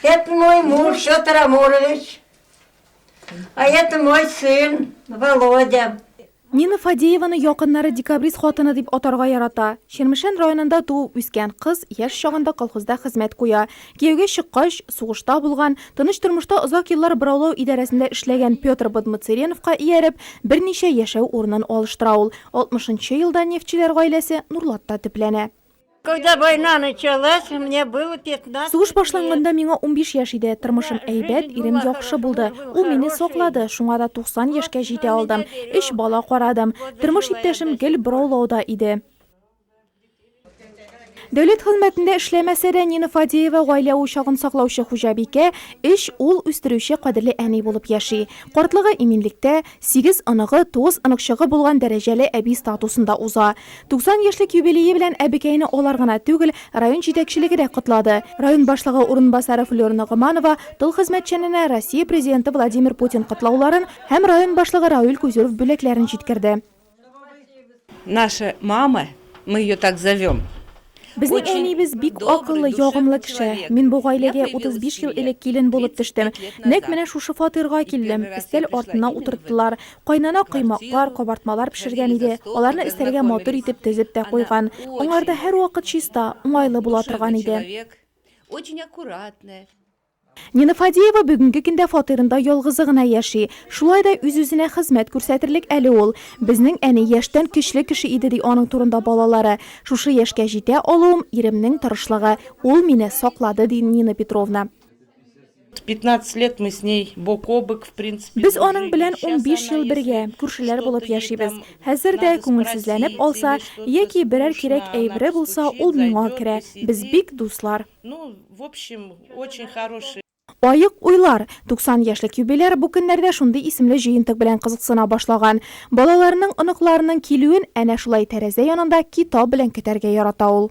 Это мой муж Петр Амурович, а это мой сын Володя. Нина Фадееваны якыннары декабрист хатыны дип атарга ярата. Чермешән районында туып үскән кыз яшь чагында колхозда хезмәт куя. Кияүгә чыккач, сугышта булган, тыныч тормышта озак еллар бораулау идарәсендә эшләгән Петр Бадмыцереновка ияреп, берничә яшәү урынын алыштыра ул. 60 елда нефтьчеләр гаиләсе Нурлатта төпләнә. Когда война началась, мне было 15 Сугыш башланганда миңа унбиш яшь иде. Тормышым әйбәт, ирем яхшы булды. Ул мине саклады, шуңа да 90 яшькә җитә алдым. Өч бала карадым. Тормыш иптәшем гел бораулауда иде. Дәүләт хезмәтендә эшләмәсә дә, Нина Фадеева гаилә учагын саклаучы хуҗабикә, өч ул үстерүче кадерле әни булып яши. Картлыгы иминлектә, Сигез оныгы, тугыз оныкчыгы булган дәрәҗәле әби статусында уза. 90 яшьлек юбилее белән әбекәйне алар гына түгел, район җитәкчелеге дә котлады. Район башлыгы урынбасары Флёр Ногоманова тыл хезмәтчәненә Россия Президенты Владимир Путин котлауларын һәм район башлыгы Рауль Кузюров бүләкләрен җиткерде. Наша мама, мы ее так зовем, Безнең әниебез бик акыллы, ягымлы кеше. Мин бу гаиләгә 35 ел элек килен булып төштем. Нәкъ менә шушы фатирга килдем. Өстәл артына утырттылар. Кайнана коймаклар, кабартмалар пешергән иде. Аларны өстәлгә матур итеп тезеп тә куйган. Аңарда һәрвакыт чиста, уңайлы була торган иде. Очень аккуратная. Нина Фадеева бүгенге көндә фатирында ялгызы гына яши. Шулай да үз-үзенә хезмәт күрсәтерлек әле ул. Безнең әни яшьтән көчле кеше иде, ди аның турында балалары. Шушы яшькә җитә алуым, иремнең тырышлыгы. Ул мине саклады, ди Нина Петровна. Без аның белән унбиш ел бергә, күршеләр булып яшибез. Хәзер дә, күңелсезләнеп алса, яки берәр кирәк әйбере булса, ул миңа керә. Без бик дуслар. Ну, в общем, очень хороший. Аек уйлар! 90 яшьлек юбиляр бу көннәрдә шундый исемле җыентык белән кызыксына башлаган. Балаларының, оныкларының килүен әнә шулай тәрәзә янында китап белән көтәргә ярата ул.